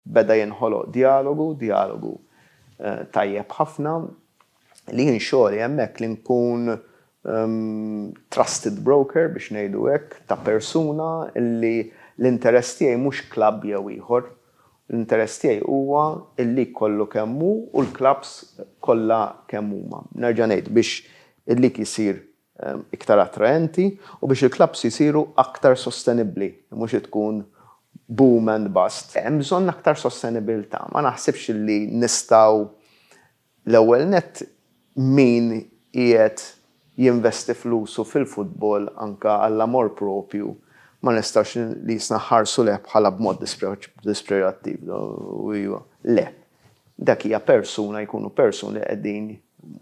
Beda jinħoloq djalogu, djalogu tajjeb ħafna li jien xogħli hemmhekk li nkun trusted broker biex ngħidu hekk ta' persuna li l-interess tiegħi mhux klabb jew ieħor. L-interess tiegħi huwa l-league kollu kemm hu u l-klabbs kollha kemm huma. Nerġa' ngħid biex il-league isir iktar attraenti u biex il-klabbs isiru aktar sostenibbli, mhux tkun boom and bust. Hemm bżonn aktar sostenibilità. Ma naħsibx li nistgħu l-ewwel nett min qiegħed jinvesti flusu fil-futbol anke għall-amor proprju ma nistgħux nqisna ħarsu lejh bħala b'mod dispreġattiv. Le. Dak hija persuna, jkunu persuni li qegħdin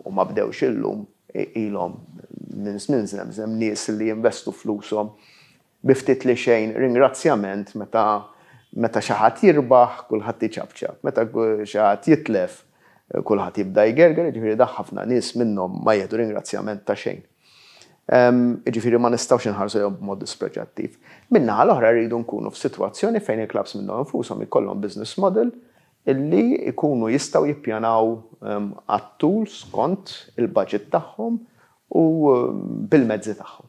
u ma bdewx illum, ilhom minn żmien żemżem, nies li jinvestu flushom bi ftit li xejn ringrazzjament meta meta xi ħadd jirbaħ kulħadd iċapċap, meta xi ħadd jitlef kulħadd jibda jgerger, jiġifieri dak ħafna nies minnhom ma jieħdu ringrazzjament ta' xejn. Jiġifieri ma nistgħux inħarsu lejhom b'mod dispreġġattiv. Min-naħa l-oħra rridu nkunu f'sitwazzjoni fejn il-klabbs minnhom infushom ikollhom business model illi jkunu jistgħu jippjanaw għat-tul skont il-baġit tagħhom u bil-mezzi tagħhom.